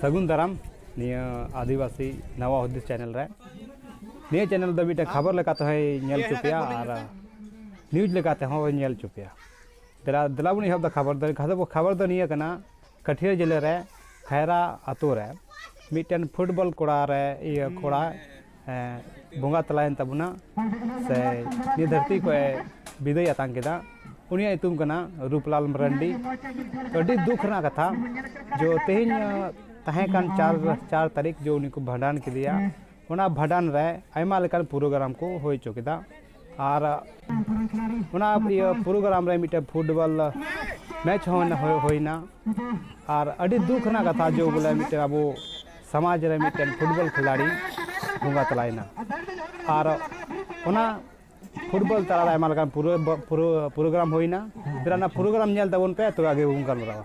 ᱥᱟᱹᱜᱩᱱ ᱫᱟᱨᱟᱢ ᱱᱤᱭᱟᱹ ᱟᱹᱫᱤᱵᱟᱹᱥᱤ ᱱᱟᱣᱟ ᱦᱩᱫᱤᱥ ᱪᱮᱱᱮᱞ ᱨᱮ ᱱᱤᱭᱟᱹ ᱪᱮᱱᱮᱞ ᱫᱚ ᱢᱤᱫᱴᱮᱱ ᱠᱷᱚᱵᱚᱨ ᱞᱮᱠᱟᱛᱮ ᱦᱚᱸᱭ ᱧᱮᱞ ᱦᱚᱪᱚ ᱯᱮᱭᱟ ᱟᱨ ᱱᱤᱭᱩᱡᱽ ᱞᱮᱠᱟᱛᱮ ᱦᱚᱸ ᱧᱮᱞ ᱦᱚᱪᱚ ᱯᱮᱭᱟ ᱫᱮᱞᱟ ᱫᱮᱞᱟ ᱵᱚᱱ ᱮᱦᱚᱵ ᱫᱟ ᱠᱷᱚᱵᱚᱨ ᱫᱚ ᱠᱷᱚᱵᱚᱨ ᱫᱚ ᱱᱤᱭᱟᱹ ᱠᱟᱱᱟ ᱠᱟᱹᱴᱷᱤᱭᱟᱹ ᱡᱮᱞᱮ ᱨᱮ ᱠᱷᱟᱭᱨᱟ ᱟᱛᱳ ᱨᱮ ᱢᱤᱫᱴᱮᱱ ᱯᱷᱩᱴᱵᱚᱞ ᱠᱚᱲᱟ ᱨᱮ ᱤᱭᱟᱹ ᱠᱚᱲᱟ ᱵᱚᱸᱜᱟ ᱛᱟᱞᱟᱭᱮᱱ ᱛᱟᱵᱚᱱᱟ ᱥᱮ ᱱᱤᱭᱟᱹ ᱫᱷᱟᱹᱨᱛᱤ ᱠᱷᱚᱡ ᱵᱤᱫᱟᱹᱭ ᱟᱛᱟᱝ ᱠᱮᱫᱟ ᱩᱱᱤᱭᱟᱜ ᱧᱩᱛᱩᱢ ᱠᱟᱱᱟ ᱨᱩᱯᱞᱟᱞ ᱢᱟᱨᱟᱱᱰᱤ ᱟᱹᱰᱤ ᱫᱩᱠ ᱨᱮᱱᱟᱜ ᱠᱟᱛᱷᱟ ᱡᱮ ᱛᱮᱦᱮᱧ ᱛᱟᱦᱮᱸ ᱠᱟᱱ ᱪᱟᱨ ᱪᱟᱨ ᱛᱟᱹᱨᱤᱠᱷ ᱡᱮ ᱩᱱᱤ ᱠᱚ ᱵᱷᱟᱸᱰᱟᱱ ᱠᱮᱫᱮᱭᱟ ᱚᱱᱟ ᱵᱷᱟᱸᱰᱟᱱ ᱨᱮ ᱟᱭᱢᱟ ᱞᱮᱠᱟᱱ ᱯᱨᱳᱜᱨᱟᱢ ᱠᱚ ᱦᱩᱭ ᱦᱚᱪᱚ ᱠᱮᱫᱟ ᱟᱨ ᱚᱱᱟ ᱤᱭᱟᱹ ᱯᱨᱳᱜᱨᱟᱢ ᱨᱮ ᱢᱤᱫᱴᱮᱱ ᱯᱷᱩᱴᱵᱚᱞ ᱢᱮᱪ ᱦᱚᱸ ᱦᱩᱭᱱᱟ ᱟᱨ ᱟᱹᱰᱤ ᱫᱩᱠ ᱨᱮᱱᱟᱜ ᱠᱟᱛᱷᱟ ᱡᱮ ᱵᱚᱞᱮ ᱢᱤᱫᱴᱮᱱ ᱟᱵᱚ ᱥᱚᱢᱟᱡᱽ ᱨᱮ ᱢᱤᱫᱴᱮᱱ ᱯᱷᱩᱴᱵᱚᱞ ᱠᱷᱤᱞᱟᱲᱤ ᱵᱚᱸᱜᱟ ᱛᱟᱞᱟᱭᱮᱱᱟ ᱟᱨ ᱚᱱᱟ ᱯᱷᱩᱴᱵᱚᱞ ᱛᱟᱞᱟᱨᱮ ᱟᱭᱢᱟ ᱞᱮᱠᱟᱱ ᱯᱨᱳᱜᱨᱟᱢ ᱦᱩᱭᱱᱟ ᱛᱟᱦᱞᱮ ᱚᱱᱟ ᱯᱨᱳᱜᱨᱟᱢ ᱧᱮᱞ ᱛᱟᱵᱚᱱ ᱯᱮ ᱛᱚᱵᱮ ᱟᱜᱮ ᱵᱚᱱ ᱜᱟᱞᱢᱟᱨᱟᱣᱟ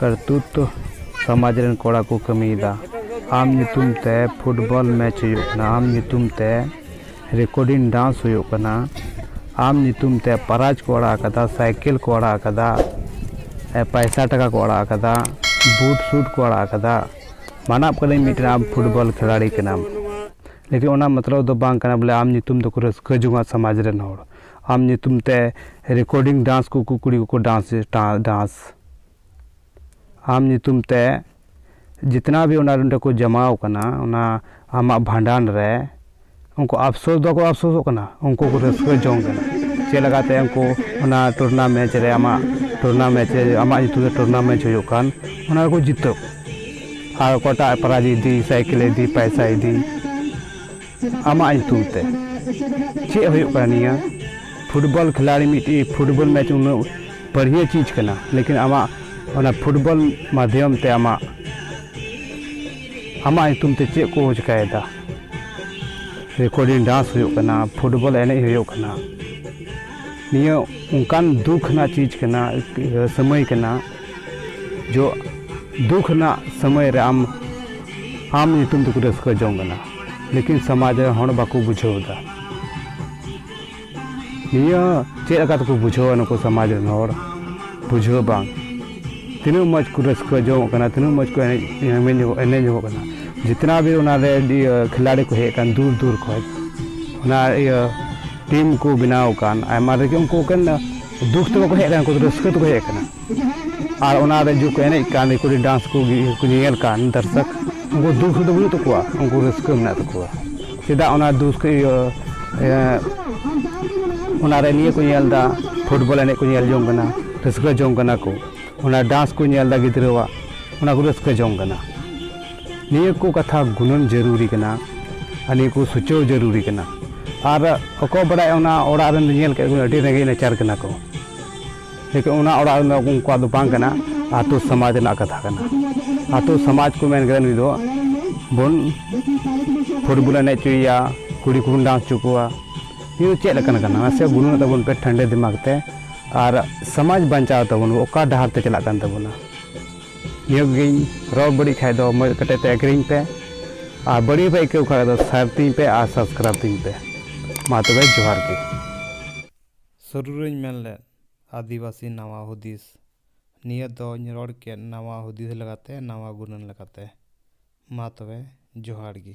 ᱠᱟᱨᱛᱩᱛ ᱫᱚ ᱥᱚᱢᱟᱡᱽ ᱨᱮᱱ ᱠᱚᱲᱟ ᱠᱚ ᱠᱟᱹᱢᱤᱭᱮᱫᱟ ᱟᱢ ᱧᱩᱛᱩᱢ ᱛᱮ ᱯᱷᱩᱴᱵᱚᱞ ᱢᱮᱪ ᱦᱩᱭᱩᱜ ᱠᱟᱱᱟ ᱟᱢ ᱧᱩᱛᱩᱢ ᱛᱮ ᱨᱮᱠᱳᱰᱤᱝ ᱰᱟᱱᱥ ᱦᱩᱭᱩᱜ ᱠᱟᱱᱟ ᱟᱢ ᱧᱩᱛᱩᱢ ᱛᱮ ᱯᱨᱟᱭᱤᱡᱽ ᱠᱚ ᱟᱲᱟᱜ ᱟᱠᱟᱫᱟ ᱥᱟᱭᱠᱮᱞ ᱠᱚ ᱟᱲᱟᱜ ᱟᱠᱟᱫᱟ ᱯᱚᱭᱥᱟ ᱴᱟᱠᱟ ᱠᱚ ᱟᱲᱟᱜ ᱟᱠᱟᱫᱟ ᱵᱩᱴ ᱥᱩᱴ ᱠᱚ ᱟᱲᱟᱜ ᱟᱠᱟᱫᱟ ᱢᱟᱱᱟᱜ ᱠᱟᱹᱱᱟᱹᱧ ᱢᱤᱫᱴᱮᱱ ᱟᱢ ᱯᱷᱩᱴᱵᱚᱞ ᱠᱷᱤᱞᱟᱲᱤ ᱠᱟᱱᱟᱢ ᱞᱮᱠᱤᱱ ᱚᱱᱟ ᱢᱚᱛᱞᱚᱵ ᱫᱚ ᱵᱟᱝ ᱠᱟᱱᱟ ᱵᱚᱞᱮ ᱟᱢ ᱧᱩᱛᱩᱢ ᱛᱮᱠᱚ ᱨᱟᱹᱥᱠᱟᱹ ᱡᱚᱝᱟ ᱥᱚᱢᱟᱡᱽ ᱨᱮᱱ ᱦᱚᱲ ᱟᱢ ᱧᱩᱛᱩᱢ ᱛᱮ ᱨᱮᱠᱳᱰᱤᱝ ᱰᱟᱱᱥ ᱠᱚᱠᱚ ᱠᱩᱲᱤ ᱠᱚᱠᱚ ᱰᱟᱱᱥ ᱰᱟᱱᱥ ᱟᱢ ᱧᱩᱛᱩᱢ ᱛᱮ ᱡᱤᱛᱱᱟ ᱵᱷᱤ ᱚᱱᱟ ᱱᱚᱰᱮ ᱠᱚ ᱡᱚᱢᱟᱣ ᱟᱠᱟᱱᱟ ᱚᱱᱟ ᱟᱢᱟᱜ ᱵᱷᱟᱸᱰᱟᱱ ᱨᱮ ᱩᱱᱠᱩ ᱟᱯᱥᱳᱥ ᱫᱚ ᱵᱟᱠᱚ ᱟᱯᱥᱳᱥᱚᱜ ᱠᱟᱱᱟ ᱩᱱᱠᱩ ᱠᱚ ᱨᱟᱹᱥᱠᱟᱹ ᱡᱚᱝ ᱠᱟᱱᱟ ᱪᱮᱫ ᱞᱮᱠᱟᱛᱮ ᱩᱱᱠᱩ ᱚᱱᱟ ᱴᱩᱨᱱᱟ ᱢᱮᱪ ᱨᱮ ᱟᱢᱟᱜ ᱴᱩᱨᱱᱟ ᱢᱮᱪ ᱨᱮ ᱟᱢᱟᱜ ᱧᱩᱛᱩᱢ ᱛᱮ ᱴᱩᱨᱱᱟ ᱢᱮᱪ ᱦᱩᱭᱩᱜ ᱠᱟᱱ ᱚᱱᱟ ᱨᱮᱠᱚ ᱡᱤᱛᱟᱹᱣ ᱟᱨ ᱚᱠᱚᱭᱴᱟᱜ ᱯᱨᱟᱭᱤᱡᱽ ᱮ ᱤᱫᱤ ᱥᱟᱭᱠᱮᱞᱮ ᱤᱫᱤ ᱯᱚᱭᱥᱟᱭ ᱤᱫᱤ ᱟᱢᱟᱜ ᱧᱩᱛᱩᱢ ᱛᱮ ᱪᱮᱫ ᱦᱩᱭᱩᱜ ᱠᱟᱱᱟ ᱱᱤᱭᱟᱹ ᱯᱷᱩᱴᱵᱚᱞ ᱠᱷᱤᱞᱟᱲᱤ ᱢᱤᱫᱴᱤᱡ ᱯᱷᱩᱴᱵᱚᱞ ᱢᱮᱪ ᱩᱱᱟᱹᱜ ᱵᱟᱹᱲᱤᱭᱟᱹ ᱪᱤᱡᱽ ᱠᱟᱱᱟ ᱞᱮᱠᱤᱱ ᱟᱢᱟᱜ ᱚᱱᱟ ᱯᱷᱩᱴᱵᱚᱞ ᱢᱟᱫᱽᱫᱷᱚᱢ ᱛᱮ ᱟᱢᱟᱜ ᱟᱢᱟᱜ ᱧᱩᱛᱩᱢ ᱛᱮ ᱪᱮᱫ ᱠᱚ ᱪᱤᱠᱟᱹᱭᱮᱫᱟ ᱨᱮᱠᱚᱨᱰᱤᱝ ᱰᱟᱱᱥ ᱦᱩᱭᱩᱜ ᱠᱟᱱᱟ ᱯᱷᱩᱴᱵᱚᱞ ᱮᱱᱮᱡ ᱦᱩᱭᱩᱜ ᱠᱟᱱᱟ ᱱᱤᱭᱟᱹ ᱚᱱᱠᱟᱱ ᱫᱩᱠᱷ ᱨᱮᱱᱟᱜ ᱪᱤᱡᱽ ᱠᱟᱱᱟ ᱥᱚᱢᱚᱭ ᱠᱟᱱᱟ ᱡᱚ ᱫᱩᱠ ᱨᱮᱱᱟᱜ ᱥᱚᱢᱚᱭ ᱨᱮ ᱟᱢ ᱟᱢ ᱧᱩᱛᱩᱢ ᱛᱮᱠᱚ ᱨᱟᱹᱥᱠᱟᱹ ᱡᱚᱝ ᱠᱟᱱᱟ ᱞᱮᱠᱤᱱ ᱥᱚᱢᱟᱡᱽ ᱨᱮ ᱦᱚᱲ ᱵᱟᱠᱚ ᱵᱩᱡᱷᱟᱹᱣ ᱮᱫᱟ ᱱᱤᱭᱟᱹ ᱪᱮᱫ ᱞᱮᱠᱟ ᱛᱮᱠᱚ ᱵᱩᱡᱷᱟᱹᱣᱟ ᱱᱩᱠᱩ ᱥᱚᱢᱟᱡᱽ ᱨᱮᱱ ᱦᱚᱲ ᱵᱩᱡᱷᱟᱹᱣ ᱵᱟᱝ ᱛᱤᱱᱟᱹᱜ ᱢᱚᱡᱽ ᱠᱚ ᱨᱟᱹᱥᱠᱟᱹ ᱡᱚᱝᱚᱜ ᱠᱟᱱᱟ ᱛᱤᱱᱟᱹᱜ ᱢᱚᱡᱽ ᱠᱚ ᱮᱱᱮᱡ ᱮᱱᱮᱡ ᱧᱚᱜᱚᱜ ᱮᱱᱮᱡ ᱧᱚᱜᱚᱜ ᱠᱟᱱᱟ ᱡᱤᱛᱱᱟ ᱵᱷᱤ ᱚᱱᱟᱨᱮ ᱠᱷᱤᱞᱟᱲᱤ ᱠᱚ ᱦᱮᱡ ᱟᱠᱟᱱ ᱫᱩᱨ ᱫᱩᱨ ᱠᱷᱚᱱ ᱚᱱᱟ ᱤᱭᱟᱹ ᱴᱤᱢ ᱠᱚ ᱵᱮᱱᱟᱣ ᱟᱠᱟᱱ ᱟᱭᱢᱟ ᱨᱮᱜᱮ ᱩᱱᱠᱩ ᱮᱠᱮᱱ ᱫᱩᱠ ᱛᱮ ᱵᱟᱠᱚ ᱦᱮᱡ ᱟᱠᱟᱱᱟ ᱩᱱᱠᱩ ᱫᱚ ᱨᱟᱹᱥᱠᱟᱹ ᱛᱮᱠᱚ ᱦᱮᱡ ᱟᱠᱟᱱᱟ ᱟᱨ ᱚᱱᱟ ᱨᱮ ᱡᱩᱫᱤ ᱠᱚ ᱮᱱᱮᱡ ᱠᱟᱱ ᱫᱤᱠᱩ ᱨᱮᱱ ᱰᱟᱱᱥ ᱠᱚ ᱧᱮᱧᱮᱞ ᱠᱟᱱ ᱫᱚᱨᱥᱚᱠ ᱩᱱᱠᱩ ᱫᱩᱠ ᱫᱚ ᱵᱟᱹᱱᱩᱜ ᱛᱟᱠᱚᱣᱟ ᱩᱱᱠᱩ ᱨᱟᱹᱥᱠᱟᱹ ᱢᱮᱱᱟᱜ ᱛᱟᱠᱚᱣᱟ ᱪᱮᱫᱟᱜ ᱚᱱᱟ ᱫᱩᱠ ᱤᱭᱟᱹ ᱚᱱᱟ ᱨᱮ ᱱᱤᱭᱟᱹ ᱠᱚ ᱧᱮᱞ ᱮᱫᱟ ᱯᱷᱩᱴᱵᱚᱞ ᱮᱱᱮᱡ ᱠᱚ ᱧᱮᱞ ᱡᱚᱝ ᱠᱟᱱᱟ ᱨᱟᱹᱥᱠᱟᱹ ᱡᱚᱝ ᱠᱟᱱᱟ ᱠᱚ ᱚᱱᱟ ᱰᱟᱱᱥ ᱠᱚ ᱧᱮᱞ ᱮᱫᱟ ᱜᱤᱫᱽᱨᱟᱹᱣᱟᱜ ᱚᱱᱟ ᱠᱚ ᱨᱟᱹᱥᱠᱟᱹ ᱡᱚᱝ ᱠᱟᱱᱟ ᱱᱤᱭᱟᱹ ᱠᱚ ᱠᱟᱛᱷᱟ ᱜᱩᱱᱟᱹᱱ ᱡᱟᱹᱨᱩᱨᱤ ᱠᱟᱱᱟ ᱟᱨ ᱱᱤᱭᱟᱹ ᱠᱚ ᱥᱩᱪᱟᱹᱣ ᱡᱟᱹᱨᱩᱨᱤ ᱠᱟᱱᱟ ᱟᱨ ᱚᱠᱚᱭ ᱵᱟᱲᱟᱭ ᱚᱱᱟ ᱚᱲᱟᱜ ᱨᱮᱱ ᱧᱮᱞ ᱠᱮᱫ ᱠᱚ ᱟᱹᱰᱤ ᱨᱮᱸᱜᱮᱡ ᱱᱟᱪᱟᱨ ᱠᱟᱱᱟ ᱠᱚ ᱞᱮᱠᱤᱱ ᱚᱱᱟ ᱚᱲᱟᱜ ᱨᱮᱱ ᱫᱚ ᱩᱱᱠᱩᱣᱟᱜ ᱫᱚ ᱵᱟᱝ ᱠᱟᱱᱟ ᱟᱛᱳ ᱥᱚᱢᱟᱡᱽ ᱨᱮᱱᱟᱜ ᱠᱟᱛᱷᱟ ᱠᱟᱱᱟ ᱟᱛᱳ ᱥᱚᱢᱟᱡᱽ ᱠᱚ ᱢᱮᱱ ᱠᱮᱫᱟ ᱱᱩᱭ ᱫᱚ ᱵᱚᱱ ᱯᱷᱩᱴᱵᱚᱞ ᱮᱱᱮᱡ ᱦᱚᱪᱚᱭᱮᱭᱟ ᱠᱩᱲᱤ ᱠᱚᱵᱚᱱ ᱰᱟᱱᱥ ᱦᱚᱪᱚ ᱠᱚᱣᱟ ᱱᱤᱭᱟᱹ ᱫᱚ ᱪᱮᱫ ᱞᱮᱠᱟᱱᱟᱜ ᱠᱟᱱᱟ ᱱᱟᱥᱮ ᱜᱩᱱᱟᱹᱱᱚᱜ ᱛᱟᱵᱚᱱ ᱯᱮ ᱴᱷᱟᱱᱰᱮ ᱫᱤᱢᱟᱜᱽ ᱛᱮ ᱟᱨ ᱥᱚᱢᱟᱡᱽ ᱵᱟᱧᱪᱟᱣ ᱛᱟᱵᱚᱱ ᱚᱠᱟ ᱰᱟᱦᱟᱨ ᱛᱮ ᱪᱟᱞᱟᱜ ᱠᱟᱱ ᱛᱟᱵᱚᱱᱟ ᱱᱤᱭᱟᱹ ᱠᱚᱜᱮᱧ ᱨᱚᱲ ᱵᱟᱹᱲᱤᱡ ᱠᱷᱟᱡ ᱫᱚ ᱢᱚᱡᱽ ᱠᱟᱛᱮ ᱛᱮ ᱟᱹᱜᱽᱨᱤᱧ ᱯᱮ ᱟᱨ ᱵᱟᱹᱲᱤᱡ ᱯᱮ ᱟᱹᱭᱠᱟᱹᱣ ᱠᱷᱟᱡ ᱫᱚ ᱥᱟᱨ ᱛᱤᱧ ᱯᱮ ᱟᱨ ᱥᱟᱵᱥᱠᱨᱟᱭᱤᱵᱽ ᱛᱤᱧ ᱯᱮ ᱢᱟ ᱛᱚᱵᱮ ᱡᱚᱦᱟᱨ ᱜᱮ ᱥᱩᱨᱩ ᱨᱮᱧ ᱢᱮᱱ ᱞᱮᱫ ᱟᱹᱫᱤᱵᱟᱹᱥᱤ ᱱᱟᱣᱟ ᱦᱩᱫᱤᱥ ᱱᱤᱭᱟᱹ ᱫᱚᱧ ᱨᱚᱲ ᱠᱮᱫ ᱱᱟᱣᱟ ᱦᱩᱫᱤᱥ ᱞᱮᱠᱟᱛᱮ ᱱᱟᱣᱟ ᱜᱩᱱᱟᱹᱱ ᱞᱮᱠᱟᱛᱮ ᱢᱟ ᱛᱚᱵᱮ ᱡᱚᱦᱟᱨ ᱜᱮ